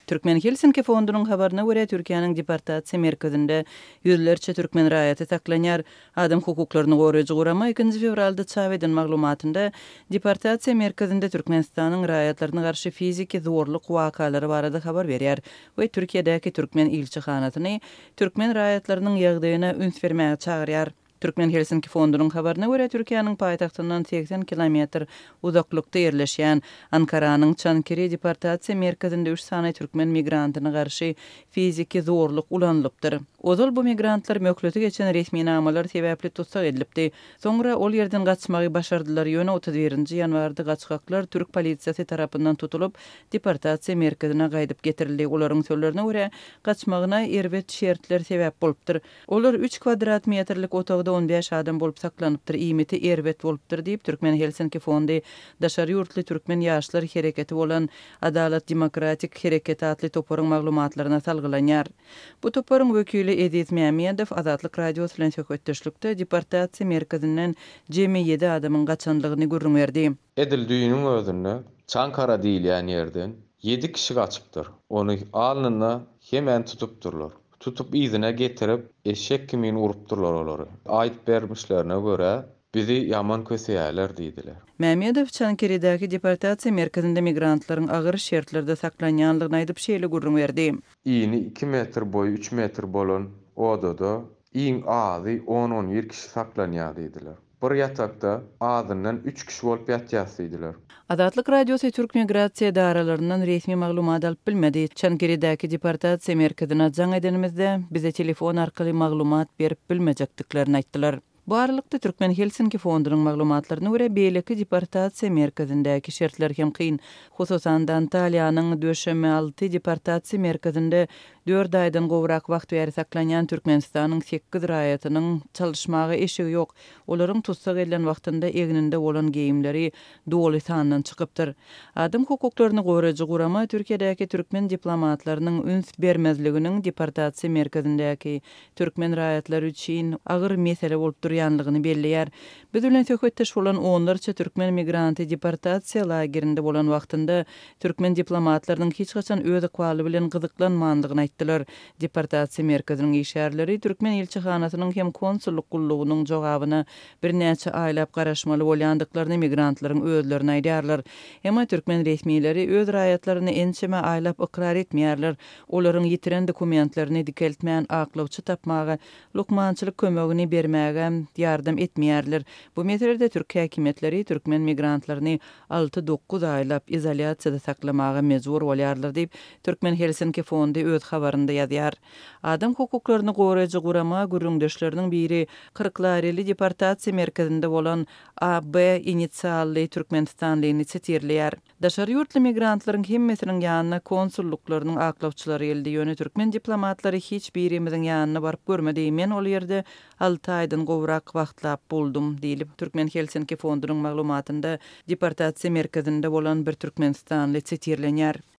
Türkmen Helsinki fondunyň habaryna görä, Türkiýäniň deportasiýa merkezinde ýüzlerçe türkmen raýaty saklanýar. Adam hukuklaryny goraýjy gurama ikinji fewralda çap eden maglumatynda, deportasiýa merkezinde Türkmenistanyň raýatlaryna garşy fiziki zorluk wakalary barada habar berýär we Türkiýedäki türkmen ilçihanasyny türkmen raýatlarynyň ýagdaýyna üns bermäge çagyrýar. Türkmen Helsinki fondunyň habaryna görä, Türkiýäniň paýtagtyndan segsen kilometr uzaklykda ýerleşýän Ankaranyň Çankiri deportasiýa merkezinde üç sany türkmen migrantyna garşy fiziki zorluk ulanylypdyr. Ozal bu migrantlar möhleti geçen resminamalar sebäpli tussag edilipdi. Soňra ol ýerden gaçmagy başardylar, ýöne otuz birinji ýanwarda gaçgaklar türk polisiýasy tarapyndan tutulyp, deportasiýa merkezine gaýdyp getirildi. Olaryň sözlerine görä, gaçmagyna erbet şertler sebäp bolupdyr. Olar üç kwadrat metrlik otagda on bäş adam bolup saklanypdyr, iýmiti erbet bolupdyr diýip, Türkmen Helsinki fondy daşary ýurtly türkmen ýaşlar hereketi bolan Adalat demokratik hereketi atly toparyň maglumatlaryna salgylanýar. Bu toparyň wekili Eziz Mämmedow Azatlyk Radiosy bilen söhbetdeşlikde deportasiýa merkezinden jemi ýedi adamyň gaçandygyny gürrüň berdi. Edil düýnüň özünde Çankara diýilýän ýerden ýedi kişi gaçypdyr. Ony alnynda hemän tutupdyrlar. Tutup yzyna getirip, eşek kimin urupdyrlar olary. Aýdyp bermişlerine görä, bizi ýaman köseýärler diýdiler. Mämmedow Çankirydäki deportasiýa merkezinde migrantlaryň agyr şertlerde saklanýandygyny aýdyp, şeýle gürrüň berdi. Ini iki metr, boýy üç metr bolan odada iň azy on-on bir kişi saklanýar diýdiler. Bir ýatakda azyndan üç kişi bolup ýatýas diýdiler. Azatlyk Radiosy türk migrasiýa edaralaryndan resmi maglumat alyp bilmedi. Çankirydäki deportasiýa merkezine jaň edenimizde, bize telefon arkaly maglumat berip bilmejekdiklerini aýtdylar. Bu aralykda, Türkmen Helsinki fondunyň maglumatlaryna görä, beýleki deportasiýa merkezindäki şertler hem kyn. Hususan-da, Antaliýanyň Döşeme alty deportasiýa merkezinde Dört aýdan gowrak wagt bäri saklanýan Türkmenistanyň sekiz raýatynyň çalyşmaga eşigi ýok. Olaryň tussag edilen wagtynda egninde bolan geýimleri doly sandan çykypdyr. Adam hukuklaryny goraýjy gurama Türkiýedäki türkmen diplomatlarynyň üns bermezliginiň deportasiýa merkezindäki türkmen raýatlary üçin agyr mesele bolup durýanlygyny belleýär. Biz bilen söhbetdeş bolan onlarça türkmen migranty deportasiýa lagerinde bolan wagtynda türkmen diplomatlarynyň hiç haçan öz ykbaly bilen gyzyklanmandygyny aýtdylar. Deportasiýa merkeziniň işgärleri türkmen ilçihanasynyň hem konsullyk gullugynyň jogabyna birnäçe aýlap garaşmaly bolýandyklaryny migrantlaryň özlerine aýdýarlar. Emma türkmen resmileri öz raýatlaryny ençeme aýlap ykrar etmeýärler, olaryň ýitiren dokumentlerini dikeltmän aklawçy tapmaga lukmançylyk kömegini bermäge ýardam etmeýärler. Bu meselede türk häkimiýetleri türkmen migrantlaryny alty-dokuz aýlap izolýasiýada saklamaga mejbur bolýarlar diýip, Türkmen Helsinki fondy öz habarynda ýazýar. Adam hukuklaryny goraýjy gurama gürrüňdeşleriniň biri Kyrklareli deportasiýa merkezinde bolan AB initsially türkmenistanlyny çetirleýär. Daşary ýurtly migrantlaryň hemmesiniň ýanyna konsullyklarynyň aklawçylary geldi, ýöne türkmen diplomatlary hiç birimiziň ýanyna baryp görmedi, men ol ýerde alty aýdan gowrak wagtlap boldum, diýlip, Türkmen Helsinki fondunyň maglumatynda deportasiýa merkezinde bolan bir türkmenistanly sitirlenýär.